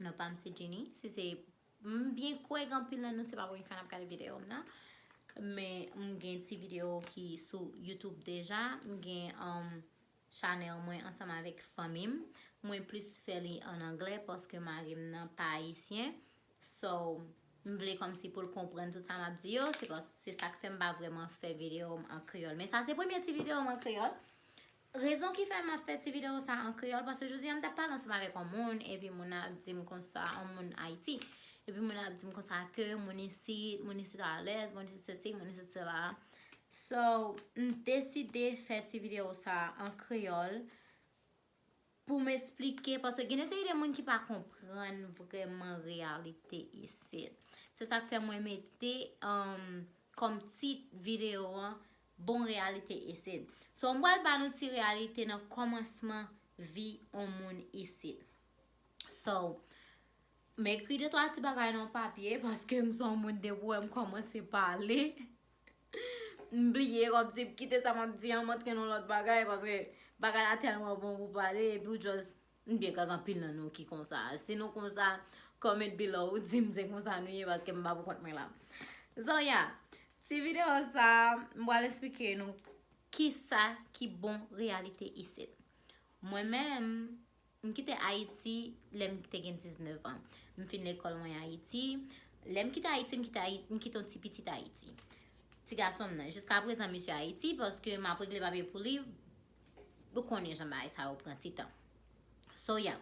Non pam se Djini, si se m byen kwè gen anpil nan nou se pa premye fwa nap gade video m nan men m gen ti video ki sou YouTube deja m gen Chanel mwen ansanm avèk fanmi m mwen plis fè li an anglè paske mari m nan pa ayisyen so m vle kòmsi pou l konprann tout sa map di yo se sak fè m pa vreman fè video m an kreyòl men sa se premye ti video m an kreyòl Rezon ki fè map fè ti video sa an kreyòl paske jodi a m tap pale ansanm avèk yon moun epi moun nan ap di m konsa yon moun Ayiti epi moun nan ap di m konsa ke moun isit moun isit alèz moun isit sesi moun isit sela so m deside fè ti video sa an kreyòl Pou m esplike, paske gen yon seri de moun ki pa konprann vrèman reyalite isit. Se sa k fè mwen mete kòm tit videyo an, Bon reyalite isit. So m pral ba nou ti reyalite nan kòmansman vi yon moun isit. So, m ekri de twa ti bagay nan yon papye, paske m se yon moun depi w wè m kòmanse pale. M bliye wap di kite sa map di an m antre nan lòt bagay paske bagay la tèlman bon pou pale epi ou just m byen kwè gen anpil nan nou ki konsa si nou konsa comment below di m se konsa nou ye paske m pa pou kont mwen la so ya ti video sa m pral esplike nou kisa ki bon reyalite isit mwen menm M kite Ayiti lè m te gen 19 an. M fin lekòl mwen Ayiti. Lè m kite Ayiti, m kite Ayiti, m kite yon ti pitit Ayiti. Ti gason m nan. Jiska prezan misye Ayiti paske m ap regle papye pou li. Ou konnen jan bagay sa yo pran ti tan. So ya.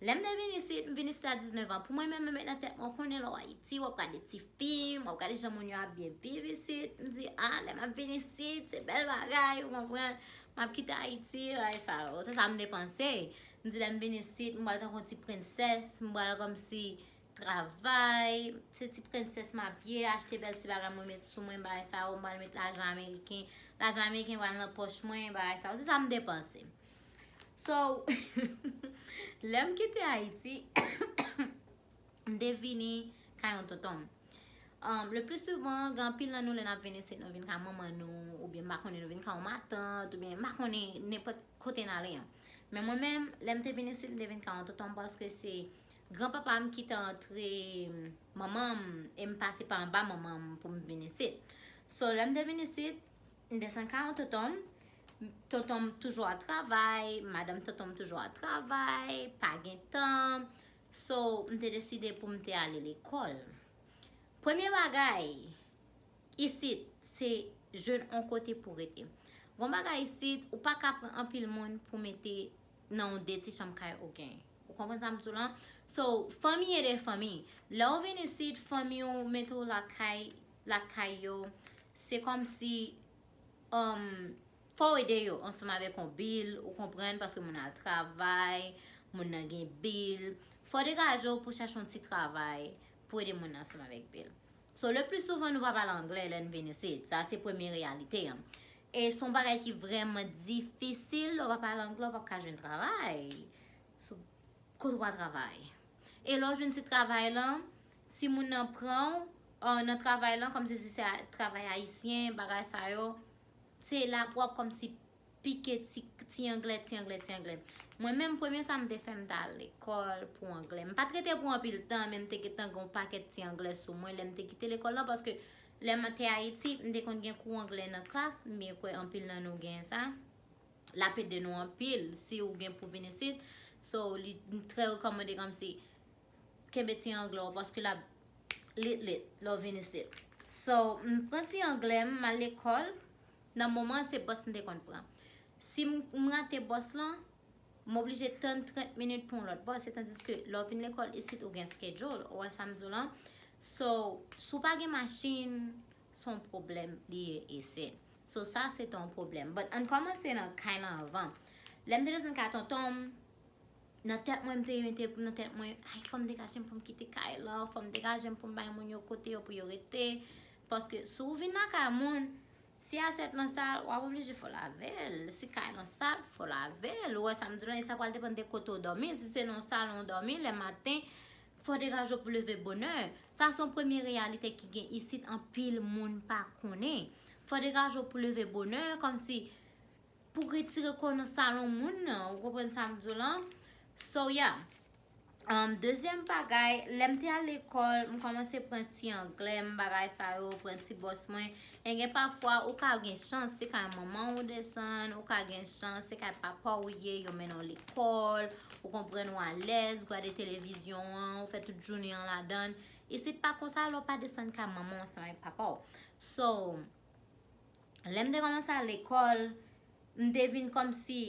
Lè m te vin isit, m vin isit a 19 an. Pou mwen menm, mwen met nan tèt mwen, ou konnen lè w Ayiti, w ap gade ti fim, w ap gade jan moun yo ap byen viv isit. M di, a, lè m ap vin isit, se bèl bagay, ou konprann. M ap kite Ayiti, bagay sa yo. Se sa m te panse. M di lè m vin isit, m pral tankou yon ti prensès. M pral kòmsi travay. Se ti prensès m ap ye, achte bèl ti bagay mwen met sou mwen, bagay sa yo. M pral met lajan ameriken. Lajan ameriken pral nan pòch mwen, bagay sa yo. Se sa m te panse. So, lè m kite Ayiti. M te vini ka yon tonton m. Le plis souvan, gen anpil nan nou lè n ap vini se nou vin ka manman nou, oubyen m pa konnen nou vin ka yon matant, oubyen m pa konnen nenpòt kote n ale an. Men mwen menm, lè m te vini isit, m te vin ka yon tonton m paske se gran papa m ki te antre manman m e m pase pa anba manman m pou m vin isit. So, lè m te vin isit, m desann ka yon tonton m, tonton m toujou ap travay, madanm tonton m toujou ap travay, pa gen tan. So, m te deside pou m te ale lekòl. Premye bagay, isit, se jwenn on kote pou rete. Gon bagay isit, ou pa ka pran anpil moun pou mete nan on de ti chanm kay ou gen. Ou konprann sa m di w lan? So, fanmi ede fanmi. Lè ou vin isit, fanmi ou mete ou lakay, lakay yo, se kòmsi, um, Fò w ede yo ansanm avèk yon bil, ou konprann, paske moun nan al travay, moun nan gen bil. Fò w degaje w pou w chache yon ti travay pou w ede moun nan ansanm avèk bil. So, le pli souvan nou pa pale angle lè n vin isit. Sa se premye reyalite an. E se yon bagay ki vrèman difisil, lè w pa pale angle w pap ka jwenn travay. So, kote w pral travay? E lè w jwenn ti travay lan, si moun nan pran w nan travay lan, kòmsi si se travay ayisyen, bagay sa yo, te la pou ap kòmsi pike ti anglè ti anglè ti anglè. Mwen menm premye sa m te fè m t al lekòl pou anglè. M pat rete pou anpil tan men m te gentan gen yon pakèt ti anglè sou mwen lè m te kite lekòl lan paske lè m te Ayiti m te konn gen kou anglè nan klas m byen kwè anpil nan nou gen sa l ap ede nou anpil si ou gen pou vin isit so li trè rekòmande kòmsi kenbe ti anglè w paske lap lit lit lè w vin isit. So, m pran ti anglè m, m al lekòl, nan moman an se bòs m te konn pran. Si m rate bòs lan, m oblije tann 30 minit pou yon lòt bòs etandiske lè w vin lekòl isit ou gen skedyoul, ou wè sa m di w lan. So, si w pa gen machin, se yon pwoblèm li ye isit. So, sa se te yon pwoblèm. But, an n kòmanse nan kay lan anvan. Lè m te desann kay tonton m. Nan tèt mwen mte mete nan tèt mwen ay fòm degajem poum kite kay lan, fòm degajem poum bay moun yo kote yo pou yo rete, paske si ou vin nan kay moun, si asyèt lan sal wap oblije fè w lavel, si kay lan sal fò w lavel, ou wè sam di w la e sa pral depann de kote ou dòmi, si se nan yon salon ou dòmi lè maten fò w degaje w pou leve bonè, sa son premye reyalite ki gen isit anpil moun pa konnen, fò w degaje w pou leve bonè kòmsi. Pou retire kò nan salon moun nan, ou konprann sa m di w lan? So yeah. Dezyèm bagay, lè m te al lekòl, m kòmanse pran ti anglè m, bagay sa yo, pran ti bòs mwen. E gen pafwa ou ka gen chans se kay manman w ou desann, ou ka gen chans se kay papa w ou ye, yo mennen w lekòl, ou konprann ou alèz, gade televizyon an, ou fè tout jounen an ladan l. Isit pa konsa lè w pa desann kay manman w ansanm ak papa w. So, Lè m te kòmanse al lekòl, m te vin kòmsi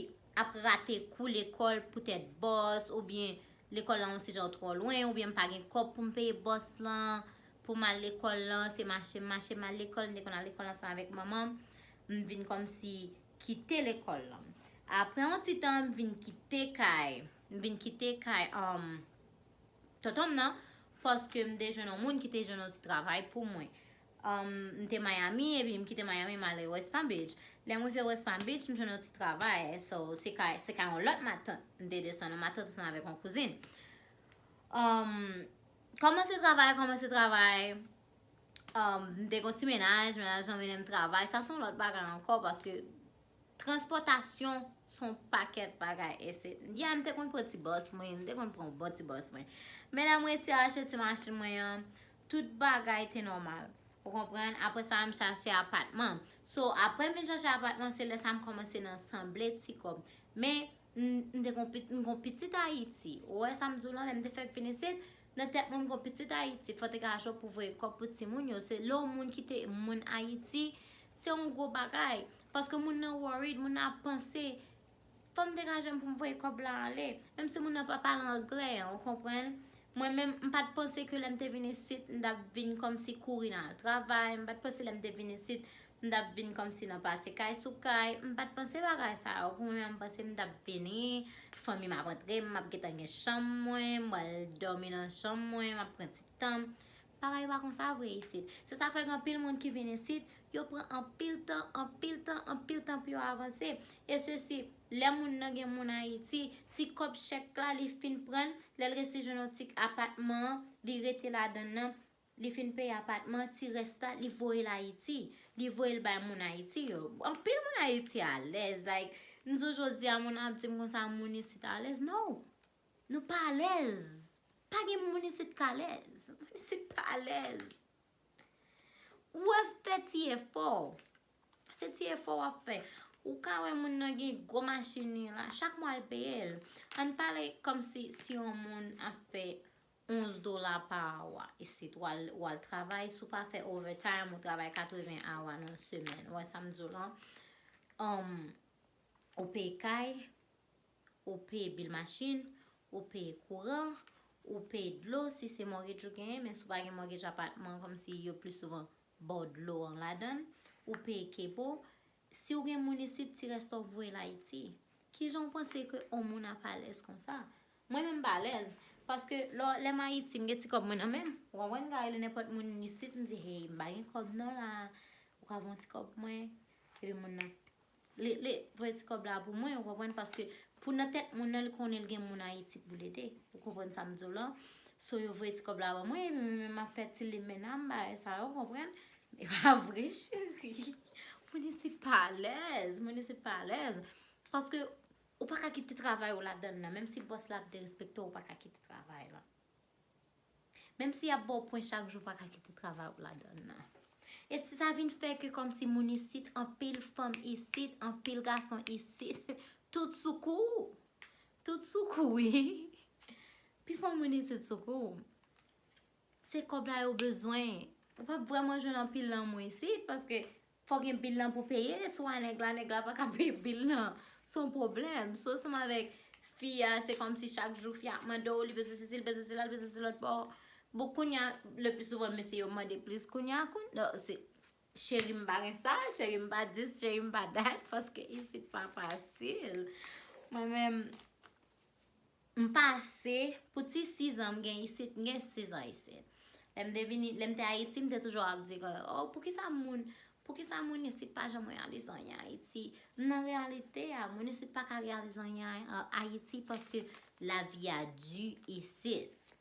ap rate kou lekòl poutèt bòs oubyen lekòl la yon ti jan twò lwen oubyen m pa gen kòb pou m peye bòs lan pou m al lekòl lan, se mache m mache m al lekòl, m te konn al lekòl ansanm avèk manman m, m vin kòmsi kite lekòl lan. Aprè yon ti tan m vin kite kay, m vin kite kay tonton m nan paske m te jwenn yon moun ki te jwenn yon ti travay pou mwen. M te Miami epi m kite Miami m ale West Palm Beach. Lè m rive West Palm Beach, m jwenn yon ti travay. So, se kay, se kay yon lòt matant m te desann. Yon matant ansanm avèk yon kouzin. Kòmanse travay, kòmanse travay. M te gen yon ti menaj, menaj lan mennen m travay. Sa se yon lòt bagay ankò paske. Transpòtasyon son pakèt bagay ese. Di a m te konn pran ti bòs mwen, m te konn pran yon bon ti bòs mwen. Men lè m resi achte ti machin mwen an, tout bagay te nòmal. Ou konprann? Apre sa m chache apatman. So, apre m vin chache apatman, se lè sa m kòmanse nan sanble ti kòb. Men, m te konn, m konn pitit Ayiti. Ou wè sa m di w lan, lè m te fèk vin isit, Nan tèt mwen m kon pitit ayiti fòt ega ajan pou voye kòb pou ti moun yo se lè yon moun kite moun ayiti se yon gwo bagay paske moun nan worried moun nan ap panse fòm dega jem poum voye kòb la ale menm si moun nan pa pale anglè an ou konprann mwen menm m pat panse ke lèm te vin isit m tap vin kòmsi kouri nan al travay m pat panse lèm te vin isit M t ap vin kòmsi nan pase kay sou kay. M pa t panse bagay sa yo pou mwen men m panse m t ap vini, fanmi m ap antre, m ap gen tan gen chanm mwen, m pral dòmi nan chanm mwen, m ap pran ti tan m. Bagay pa konsa vre isit. Se sa k fè gen anpil moun ki vin isit, yo pran anpil tan, anpil tan, anpil tan pou yo avanse. E sesi, lè moun nan gen moun Ayiti, ti kòb chèk la li fin pran l, lè l resi jwenn yon ti apatman, li rete ladan l nan. Li fin peye apatman, ti rès la li voyel Ayiti. Li voyel bay moun Ayiti yo. Anpil moun Ayiti alèz. Like, m di w jodi a moun ap di m konsa moun isit alèz. No! Nou pa alèz. Pa gen moun isit k alèz. Moun isit pa alèz. Ou ap fè ti efò. Se ti efò w ap fè. Ou ka wè moun nan gen gwo machin li la. Chak mwa l peye l. An n pale kòmsi si yon moun ap fè. 11 dola pa awa isit wal travay si w pa fè overtime ou travay 80 awa nan yon semèn ou wè sa m di w lan ou peye kay ou peye bil machin ou peye kouran ou peye dlo si se mortgage ou genyen men si w pa gen mortgage apatman kòm si yo plis souvan ba w dlo an ladan ou peye kebo Si w gen moun isit ti rès wap voye l Ayiti. Kijan w panse ke on moun ap alèz konsa? Mwen menm m pa alèz. Paske lò lè m Ayiti m gen ti kòb mwen nan men m. Ou konprann? M ka rele nenpòt moun isit m di hey m pa gen kòb non la. Ou ka voye ti kòb pou mwen? Epi moun nan li li voye ti kòb la pou mwen ou konprann paske pou nan tèt moun nan li konnen li gen moun Ayiti pou l ede. Ou konprann sa m di w lan? So yo voye ti kòb la ban mwen epi mwen menm m ap fè ti limenna m bagay sa yo ou konprann? E pa vre cheri. Moun isit pa alèz. Moun isit pa alèz. Paske ou pa ka kite travay ou ladan nan. Menm si bòs la ap derespekte ou, ou pa ka kite travay la. Menm si y ap ba w pwen chak jou, ou pa ka kite travay ou ladan nan. E si sa vin fè ke kòm si moun isit, anpil fanm isit, anpil gason isit, tout sou kou ou. Tout sou kou ou. Pi fò moun isit sou kou ou. Se kòb la yo bezwen. Ou pap vreman jwenn anpil lanmou isit paske fò gen bil lan pou peye si w a nèg la nèg la pa ka peye bil lan se yon pwoblèm si w ansanm avèk fi a se kòmsi chak jou fi a ap mande w li bezwen sesi li bezwen sela li bezwen sesi lòt pa w bon kounya le pli souvan mesye yo mande plis kounya kounya se cheri m pa gen sa cheri m pa dis cheri m pa dat paske isit pa fasil mwen menm M pase pou ti 6 an m gen isit m gen 6 an isi lè m te vini lè m te ayiti m te toujou ap di oh poukisa moun poukisa moun isit pa janm reyalize anyen ayiti m nan reyalite a moun isit pa ka reyalize anyen ayiti paske lavi a di isit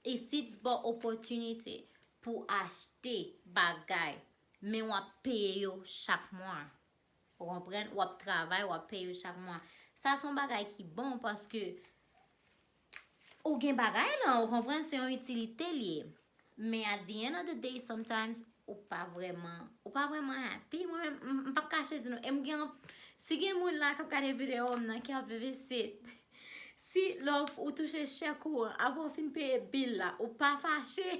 isit ba w opòtinite pou achte bagay men w ap peye yo chak mwa Ou konprann? Wap travay, wap peye yo chak mwa. Sa son bagay ki bon paske ou gen bagay lan, ou konprann? Se yon itilite li ye. Men at the end of the day, sometimes, ou pa vreman, ou pa vreman happy. Mwen menm, m pap kache di nou, e m gen, si gen moun la kap gade video m nan ki ap viv isit, si lè ou touche chèk ou an, apre ou fin peye bill la, ou pa fache?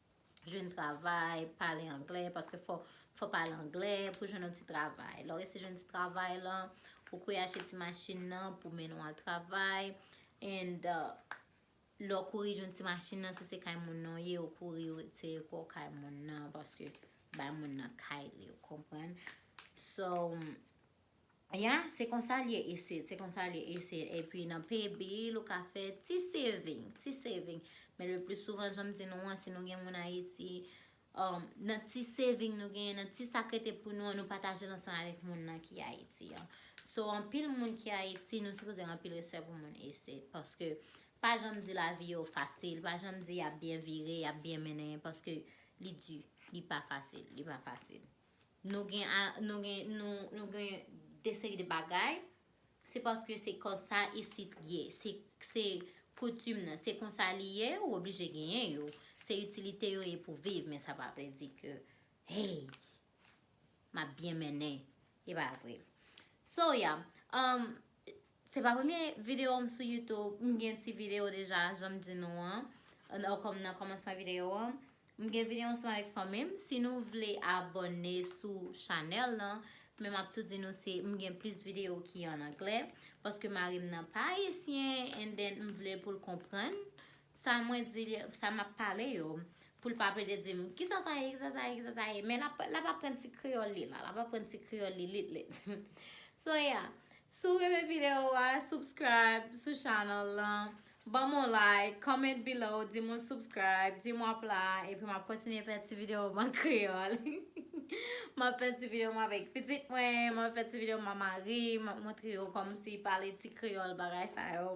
Jwenn travay, pale anglè, paske fò w pale anglè pou jwenn yon ti travay. Lè w resi jwenn ti travay lan, ou kouri achte ti machin nan pou mennen w al travay. And, lè w kouri jwenn ti machin nan, si se kay moun nan w ye, ou kouri ou retire kò w kay moun nan, paske bay moun nan kay li, ou konprann? So. Yeah se konsa l ye isit, se konsa l ye isit epi nan pay bill ou ka fè ti saving, ti saving men le plus souvent jan m di nou an si nou gen moun Ayiti nan ti saving nou genyen nan ti sa k rete pou nou an nou pataje l ansanm avèk moun nan ki Ayiti an so anpil moun ki Ayiti nou sipoze gen anpil respè pou moun isit paske pa janm di lavi yo fasil pa janm di y ap byen vire y ap byen mennen paske li di li pa fasil li pa fasil. Nou gen nou gen nou gen de seri de bagay se paske se konsa isit ye se se koutim nan se konsa li ye ou oblije genyen yo se itilite yo ye pou viv men sa pa vle di ke hey map byen mennen e pa vre so ya umm Se pa premye video m sou youtube, m gen ti video deja jan m di nou an nan komansman video an M gen video ansanm avèk fanmi m, si nou vle abòne sou chanèl lan Men m ap tou di nou se m gen plis video ki an anglè Paske mari m nan pa ayisyen and then m vle pou l konprann Sa mwen di li, sa map pale yo, pou l pa plede di m, kisa sa ye, kisa sa ye, kisa sa ye. Men lap aprann ti kreyòl li la, lap aprann ti kreyòl li lit lit. So yeah, si w renmen videyo a, subscribe sou channel lan, ban m yon like, comment below, di m ou subscribe, di m w ap la, epi m ap kontinye fè ti videyo m an kreyòl. M ap fè ti videyo m avèk pitit mwen, m ap fè ti videyo m a mari m, m ap montre yo kòmsi pale ti kreyòl bagay sa yo.